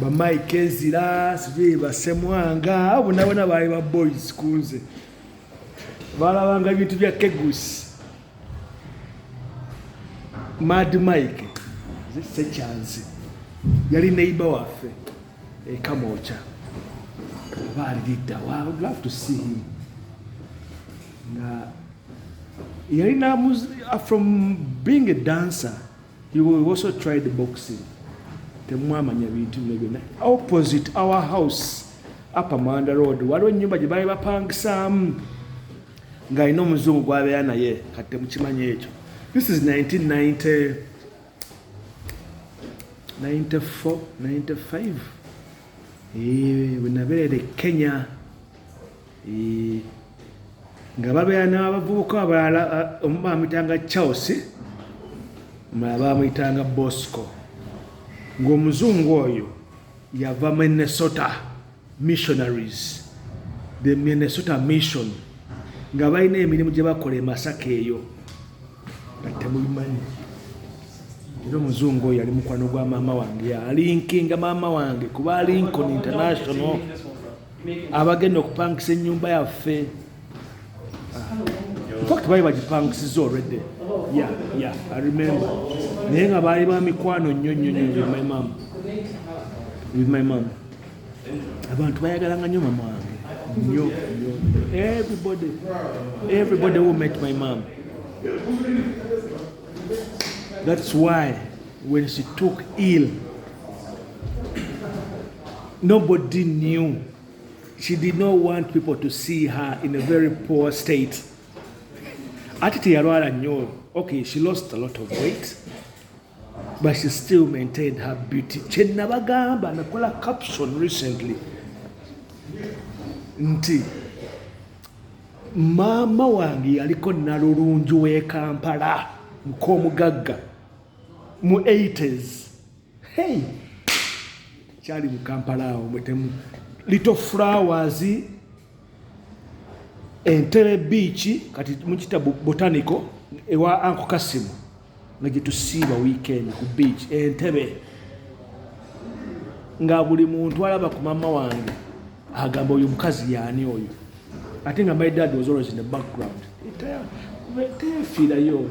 bamaike ezira sijui basemwanga abo nabona baali ba boys kunze balabanga ebintu bya kegusi mad mike sekyanzi yali neiba waffe ekamoca oba alilidda love to see him nga yalina uh, from being a dancer You will also try the boxing. Temwamanya bintu bino byonna. Opposite our house Upper Manda Road waliwo ennyumba gye baali bapangisaamu ng'alina omuzungu gwabeera naye kati temukimanyi ekyo. This is 1990 94 95 eh, bwe nabeerera e Kenya. nga babeera n'abavubuka abalala omu bamuyitanga charles omala bamuyitanga bosco ng'omuzungu oyo yava minnesota missionaries the minnesota mission nga balina emirimu gye bakola e masaka eyo nga temubimanyi era omuzungu oyo yali mukwano gwa maama wange yalinkinga maama wange kuba lincoln international abagenda okupangisa ennyumba yaffe infact baali bagipangisiza olwedde ya ya i remember naye nga baali ba mikwano nnyo nnyo nnyo with my mom with my mom abantu bayagalanga nnyo mama wange nnyo nnyo everybody everybody who met my mom that's why When she took ill, nobody knew. She did not want people to see her in a very poor state. Ati teyalwala nnyo. Okay, she lost a lot of weight. But she still maintained her beauty. Kye nabagamba nakola caption recently nti maama wange yaliko nalulungi w'e Kampala muk'omugagga mu 80s hey kyali mu kampala awo mwetemu little flowers entere biiki kati mukita botanico ewa anko kasimu nga gyetusiiba weekend ku biiki entebe nga buli muntu alaba ku mama wange agamba oyo mukazi yaani oyo ate nga my dad was always in the background tefiirayo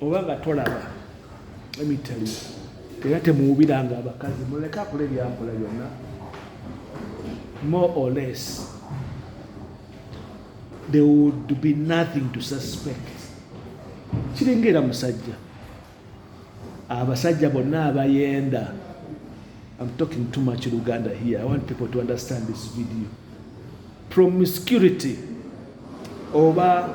oba nga tolaba emitali era temuwubiranga abakazi muleke akula ebyakola byonna more or less there would be nothing to suspect kiringa era musajja abasajja bonna abayenda I'm talking too much Luganda here. I want people to understand this video. Promiscuity over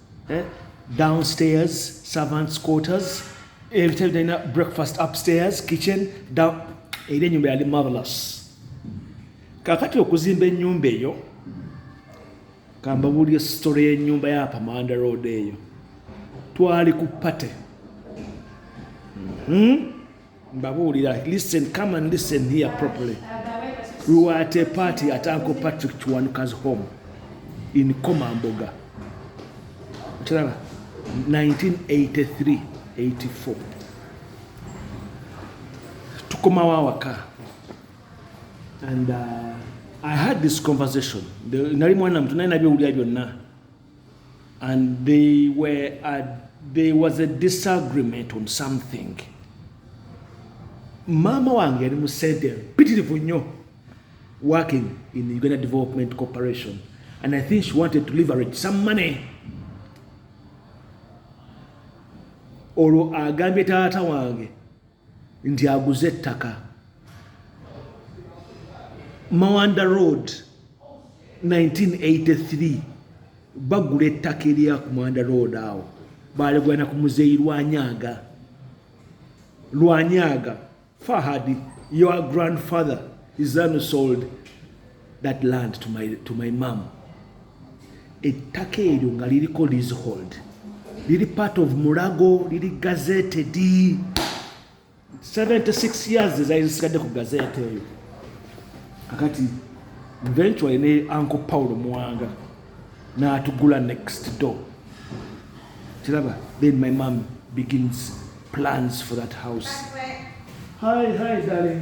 eh? downstairs servants quarters ebitebe talina breakfast upstairs kitchen down era enyumba yali marvelous kakati okuzimba enyumba eyo kambabulire story yenyumba ya pamanda road eyo twali ku pate mm -hmm. mbabuulira listen come and listen here properly we were at a party at uncle patrick kiwanuka's home in komamboga okiraba 1983 84 tukomawo awaka and uh, i had this conversation nali mwana mutu naye nabyowulira byonna and they were at, there was a disagreement on something maama wange yali mu sente mpitirivu nnyo working in the uganda development corporation and i think she wanted to leverage some money olwo agambye taata wange nti aguze ettaka mawanda road 1983 bagula ettaka erya ku mawanda road awo baligwana ku muzeeyi lwanyaga lwanyaga fahadi your grandfather is unsold that land to my, to my mom ettaka eryo nga liriko leasehold liri part of mulago liri gazeted 76 years ezali zisigadde ku gazete eyo kakati eventually ne uncle paulo muwanga n'atugula next door kiraba then my mom begins plans for that house hi hi darling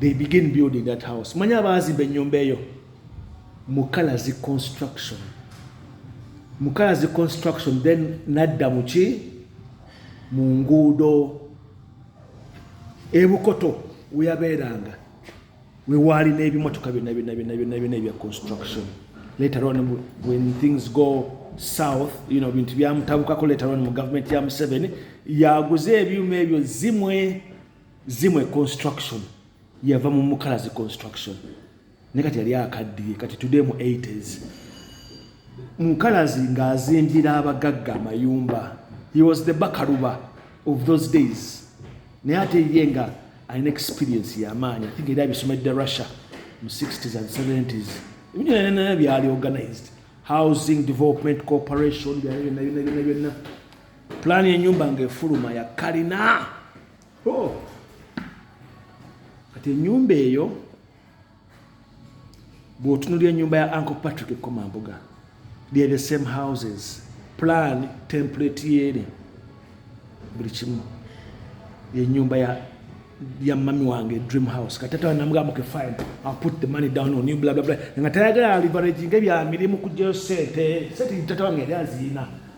they begin building that house manyi abaazimba ennyumba eyo mukalazi construction mukalazi construction then nadda muki mu nguudo ebukoto weyabeeranga wewaali n'ebimotoka byonna byonna byonna byonna byonna ebya construction later on when things go south you know bintu byamutabukako later on mu government ya museveni yaguze ebyuma ebyo zimwe zimwe construction yava mu mukalazi construction ne kati yali akaddiye kati today mu 80s mukalazi ng'azimbira abagagga amayumba he was the bakaluba of those days naye ate ye nga alina experience yamaanyi think era abisomedde russia mu 60s and 70s ebintu byonna byali organized housing development corporation byona byona byona byonna pulaani y'enyumba ng'efuluma ya kalina Oh. Kati enyumba eyo bwotunulira enyumba ya Uncle Patrick Komambuga they the same houses plan template yene buli kimu enyumba ya ya mami wange dream house kati tata namugamba ke fine I'll put the money down on you blah blah blah nga tayagala leverage nge bya mirimu kujja sente sente tata wange yali azina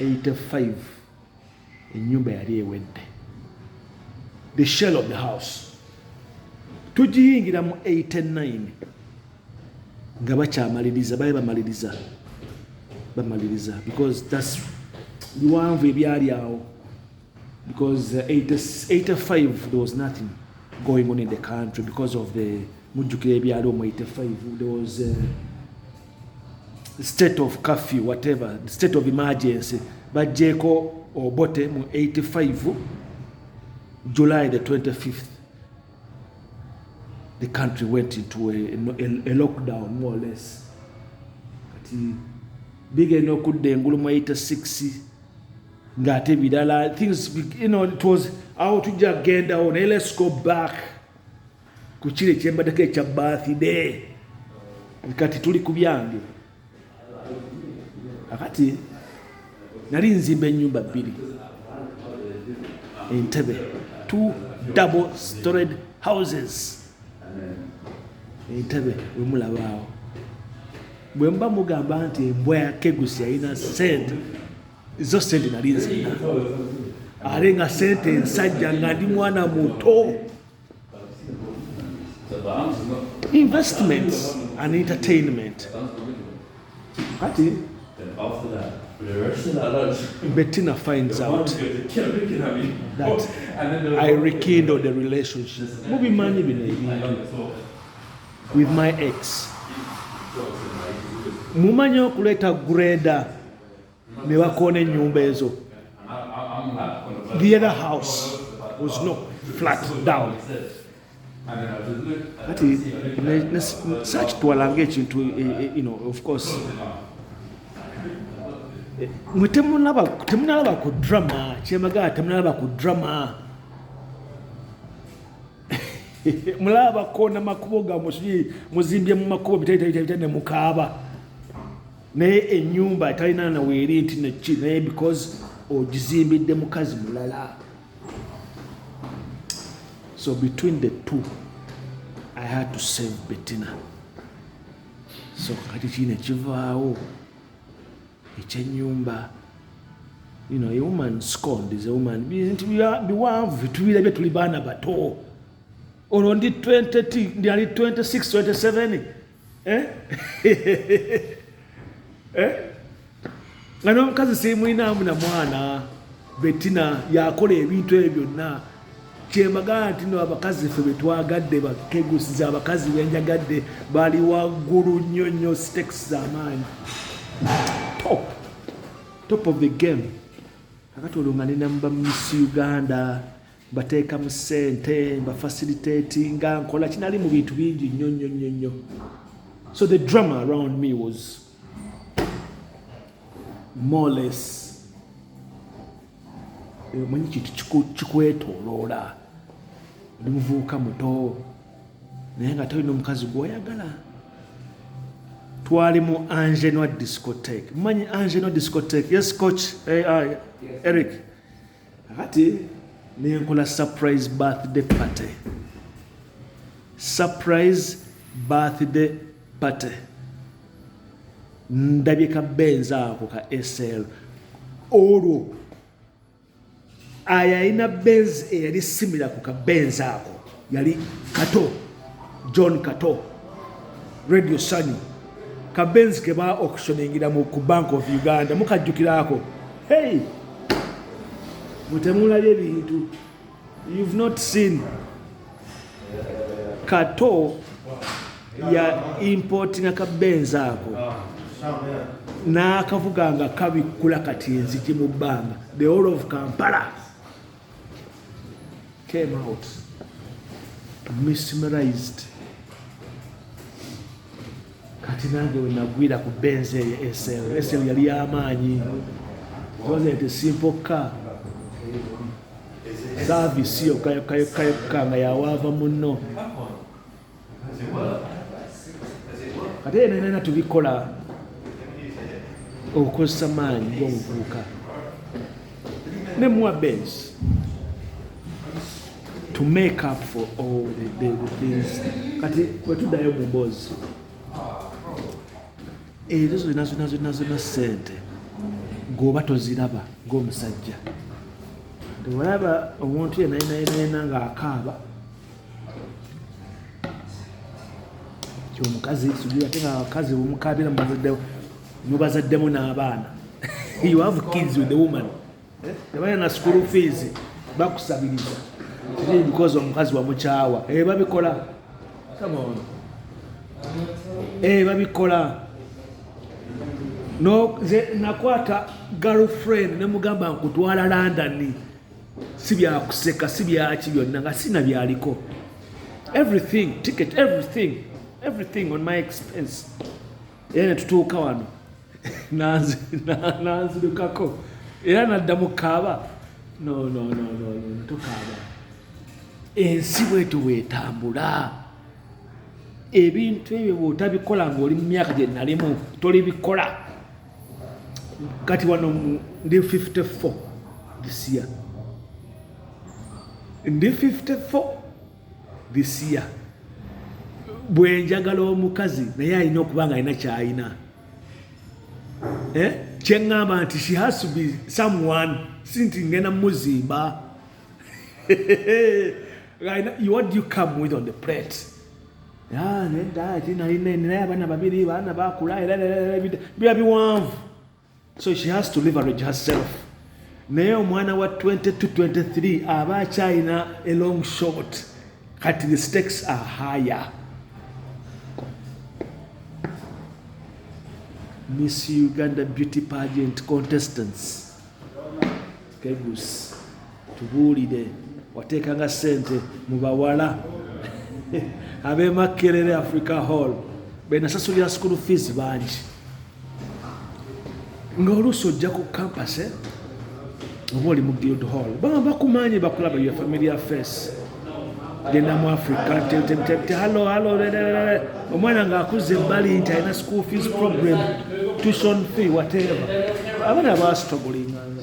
85 enyumba yali ewedde the shell of the house tugiyingira mu 89 nga bakyamaliriza baye bamaliriza bamaliriza because thats biwanvu ebyali awo because 85 uh, there was nothing going on in the country because of the mujjukira ebyali omu 85 there was uh, state of curfew whatever state of emergency bajjeeko obote mu 85 july the 25th the country went into a, a, a lockdown more or less kati bigenda okudda engulu mu 86 ngaate birala things you know, it was awo tujja kugendawo naye let's go back ku kiro ekyembadeko ekya birthday kati tuli ku byange akati nali nzimba enyumba bbiri entebe two double stored houses entebe wemulabaawo bwe muba mugamba nti embwa ya kegusi yalina sente zo sente nali nzina ate nga sente ensajja nga ndi mwana muto investments and entertainment kati Bettina finds out that I rekindle the relationship mubimanyi bino ebintu with my ex mumanyi okuleeta greda ne bakoona ennyumba ezo the other house was no flat down kati sakitwalanga ekintu e, e, you know of course eh, mwe temunalaba temunalaba ku drama kyemagala temunalaba ku drama mulaba kona makubo ga musuji muzimbye mu makubo bitali bitali bitali mukaaba naye enyumba etalina na weeri nti neki naye because ogizimbidde mukazi mulala so between the two i had to save betina so kati kii nekivaawo ekyenyumba you know, a woman scorned is a woman nti biwanvu bitubirabye tuli baana bato olwo ndi 20 ndi ali 26 27 eh? eh? nga n'omukazi simulinamu na mwana betina yakola ebintu ebyo byonna kyemagana nti no abakazi fe betwagadde bakegusiza abakazi benjagadde bali waggulu nnyo nnyo stakes zamaanyi top top of the game akati olwo nga ninamuba miss uganda mbateekamu ssente mbafasilitatinga nkola kinali mu bintu bingi nnyo nnyo nnyo nnyo so the drama around me was moles eh, omanyi kintu kikwetoloola oli muvubuka muto naye nga tolina omukazi gwoyagala twali mu angenoa discotek manyi angenoa discotek yes coach ai eh, ah, eric yes. kakati nenkola surprise birthday party surprise birthday party ndabye ka benzi ako ka sl olwo ayo alina benzi eyali simira ku ka benzi ako yali kato john kato radio sanyu kabenzi ke ba auctioningira mu ku bank of uganda mukajjukiraako hey mutemulabye ebintu you've not seen kato ya importinga kabenzi ako n'akavuga nga kabikkula kati enzigi mu bbanga the whole of kampala came out mesmerized kati nange wenagwira ku benzi eyo esl esl yali yamaanyi wasn't a simple car service yokka yokka yokka yokka nga yawaava munno kati eno enana tubikola okukozesa maanyi gomuvubuka ne muwa bens to make up for all the, the, the things kati wetuddayo mu mboozi ezo zonna zonna zonna zonna sente gwoba toziraba ngaomusajja teolaba omuntu yenayenayenayena ngaakaaba omukazi sijui ate nga abakazi omukabira mubazaddemu n'abaana you have kids with the woman eh? tebaya na school fees bakusabiriza because omukazi wamukyawa eh, babikola eh, babikola nakwata girlfriend nemugamba nkutwala london si byakuseka si byaki byonna nga sina byaliko everything ticket everything everything on my expense era netutuuka wano nanzirukako era nadda mu kaaba nonononotokaaba ensi bweto bwetambula ebintu ebyo bwotabikola ngaoli mu myaka gyenalimu tolibikola kati wano ndi 54 this year ndi 54 this year bwenjagala omukazi naye alina okuba nga alina kyalina eh? kyeŋŋamba nti she has to be someone si nti ngenda muzimba right now, what do you come with on the plate? Ah, nedda ati nalina naye abaana babiri baana bakula era biba biwanvu so she has to leverage herself naye omwana wa 2223 aba akyalina a long short kati the stakes are higher miss uganda beauty pageant contestants kegus tubuulire wateekanga sente mu bawala abemakerere africa hall benasasulira school fees bangi ngaoluusi ojja ku campus eh? oba oli mu guild hall baba bakumanyi bakulaba your familiar face genda mu africa halo halo omwana ng'akuzza ebbali nti alina school fees program tution fee whatever abana basitogulinganga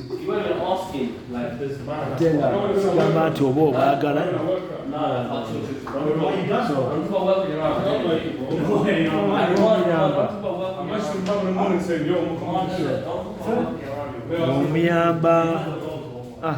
ate nga gamba nti oba obaagala omuyamba ah.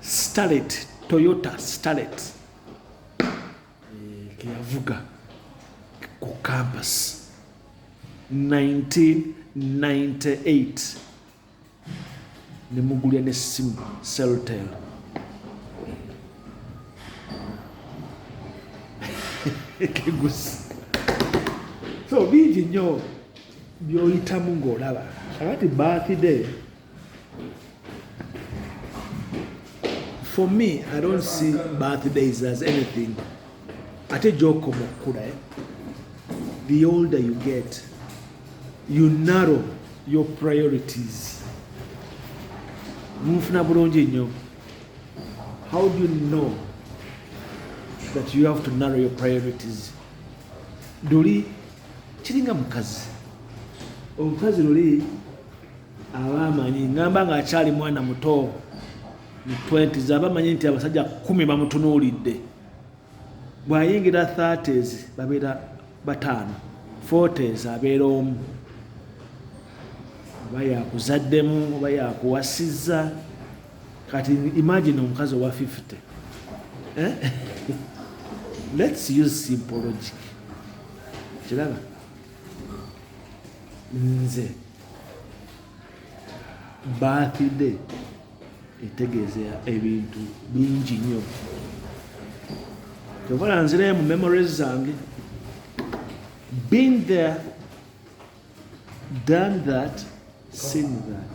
Starlet, Toyota Starlet eh, keyavuga ku campus 1998 nemugulya nesimu celtel kegusi so bingi nyo byoyitamu ngaolaba kakati birthday for me i don't see birthdays as anything ate gyokoma okukula eh? the older you get you narrow your priorities munfuna bulungi nnyo how do you know that you have to narrow your priorities luli kiringa mukazi omukazi luli abaamanyi ngamba ng'akyali mwana muto mu 20s abamanyi nti abasajja kumi bamutunuulidde bw'ayingira 30s babeera bataano 40s abeera omu oba yakuzaddemu oba yakuwasizza kati imagine omukazi owa 50 eh? let's use simpologic kiraba nze birthday etegeeza ebintu bingi nnyo kyovala nzirayo mu memories zange been there done that seen that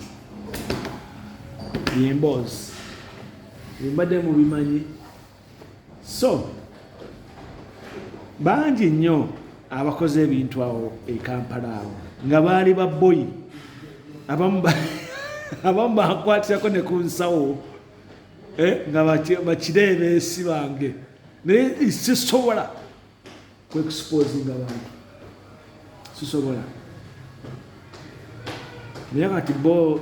yemboozi embadde mubimanyi so bangi nnyo abakoze ebintu awo ekampala awo nga baali baboyi abamu bakwatirako ne ku nsawo eh, nga bakireebeesi bange naye sisobola kwekusipozinga bantu sisobola naye kati bo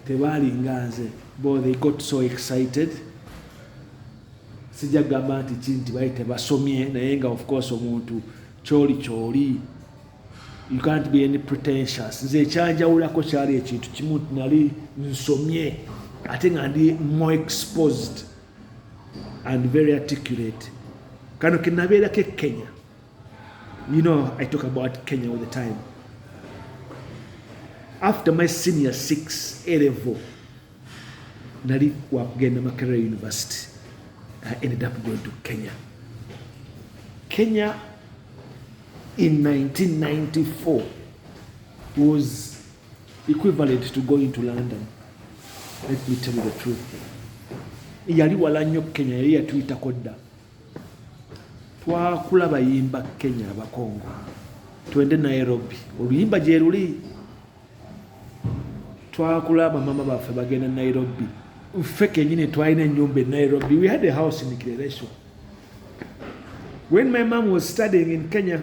tebaalinga nze bo they got so excited sijja kugamba nti ki nti bali tebasomye naye nga ofcourse omuntu kyoli kyoli you can't be any pretentious nze ekyanjawulako kyali ekintu kimu nti nali nsomye ate nga ndi more exposed and very articulate kano kenabeerako ekenya you know i talk about kenya all the time after my senior six elevo nali wakugenda makerere university i ended up going to kenya kenya in 1994 was equivalent to going to London let me tell you the truth yali wala nnyo Kenya yali yatuyitako dda twakula bayimba Kenya abakongo twende Nairobi oluyimba gyeruli twakula bamama baffe bagenda Nairobi ffe kenyini twalina enyumba e Nairobi we had a house in Kireresho when my mom was studying in Kenya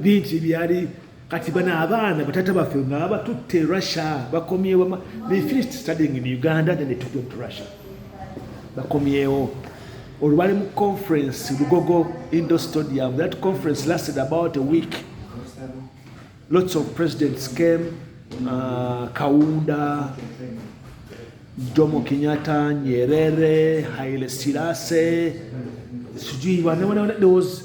bingi byali kati bano abaana batata baffe nga batutte russia bakomyewo they finished studying in uganda then they took them to russia bakomyewo olubali mu conference lugogo indo stadium that conference lasted about a week lots of presidents came uh, kaunda jomo kenyatta nyerere haile silase sijui there was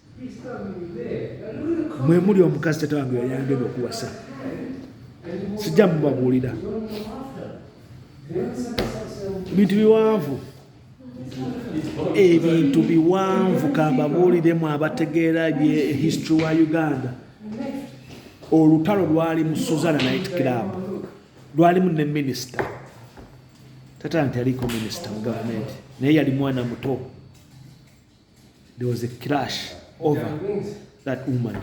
mwe muli omukazi tata wange yayangena okuwasa sijja mubabuulira ebintu biwanvu ebintu biwanvu kambabuuliremu abategeera bye history wa uganda olutalo lwali mu suzana night club lwalimu ne minisita tata nti aliko minisita mu gavumenti naye yali mwana muto There was a clash over that woman.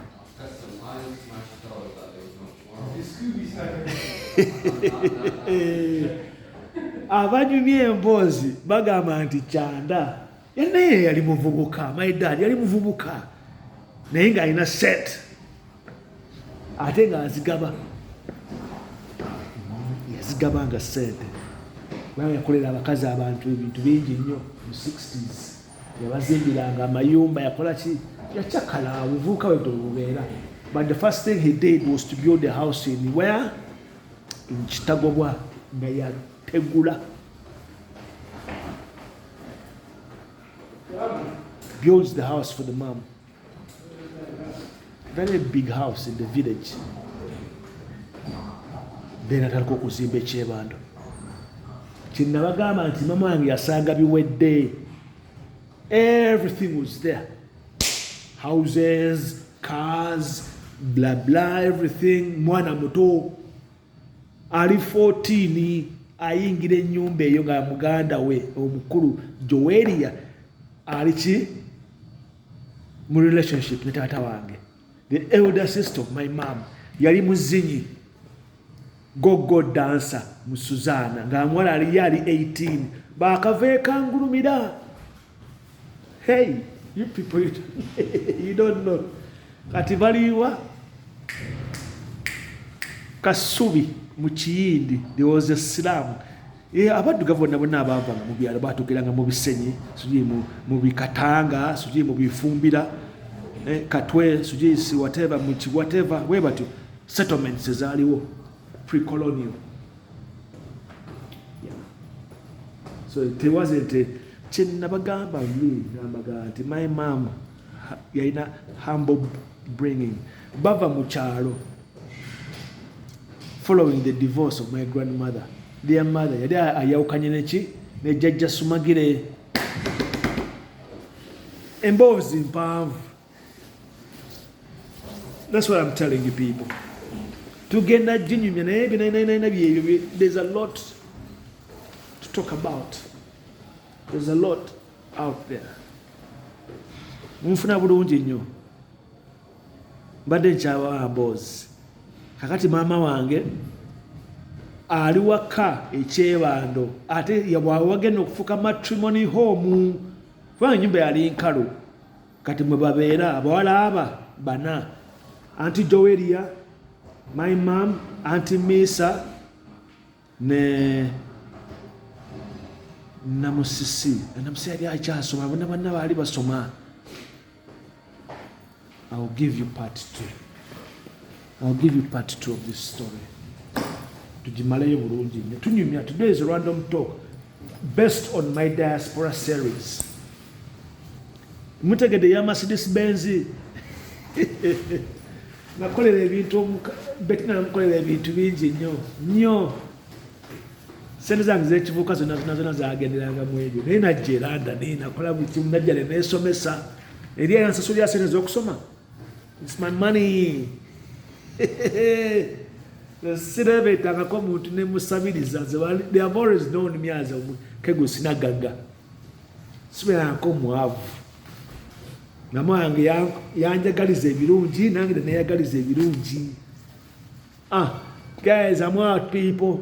abanyumya emboozi bagamba nti kyanda naye yali muvubuka my dad yali muvubuka naye ng'alina set ate ng'azigaba yazigaba nga sente kubanga yakolera abakazi abantu ebintu bingi nnyo mu 60s yabazimbiranga amayumba yakola ki yacakala buvuuka wede obubeera but the first thing he did was to build a house in where in kitagobwa nga yategula builds the house for the mom very big house in the village then atandika okuzimba ekyebando kyenabagamba nti mama wange yasanga biwedde everything was there houses cars bla bla everything mwana muto ali 14 ayingira enyumba eyo nga muganda we omukulu joweria ali ki mu relationship ne taata wange the elder sister of my mom yali muzinyi gogo dansa mu suzana nga amwala aliyo ali 18 bakava ekangulumira hey you people you, you don't know kati baliwa kasubi mu kiyindi there was a slam eh, abaddugavu bonna bonna abaavanga mu byalo batugeranga mu bisenyi sijui mu bikatanga sijui mu bifumbira eh, katwe sijui si whatever mu kiwhatever we batyo settlements ezaaliwo precolonial so it wasn't a kyenabagamba namaga nti my mom yalina humble bringing bava mu kyalo following the divorce of my grandmother their mother yali ayawukanye neki nejajja sumagire emboozi mpanvu That's what I'm telling you people. Tugenda jinyumya naye binananana byebyo there's a lot to talk about. There's a lot out there. Munfuna bulungi nnyo. Mbadde nkyawa aboozi. Kakati maama wange ali waka ekyebando ate wagenda okufuka matrimony home kubanga enyumba yali nkalu kati mwe babeera abawala aba bana anti joweria my mam anti misa ne namusisi namusisi yali akyasoma bona banna baali basoma ill give you part two ill give you part two of this story tugimaleyo bulungi nyo tunyumya today's random talk Best on my diaspora series mutegede ya Mercedes Benz nakolera ebintu betina namukolera ebintu bingi nnyo nnyo sente zange zekivuka zona zona zona zagenderanga mu ebyo naye najja eranda naye nakola buli kimu najja ne nesomesa eri eyansasulira sente zokusoma It's my money. sirebetangako omuntu nemusabiriza they have always known me as kegwe sinagaga sibeerangako mwavu mama wange yanjagaliza ebirungi nange neneyagaliza ebirungi ah guys i'm out people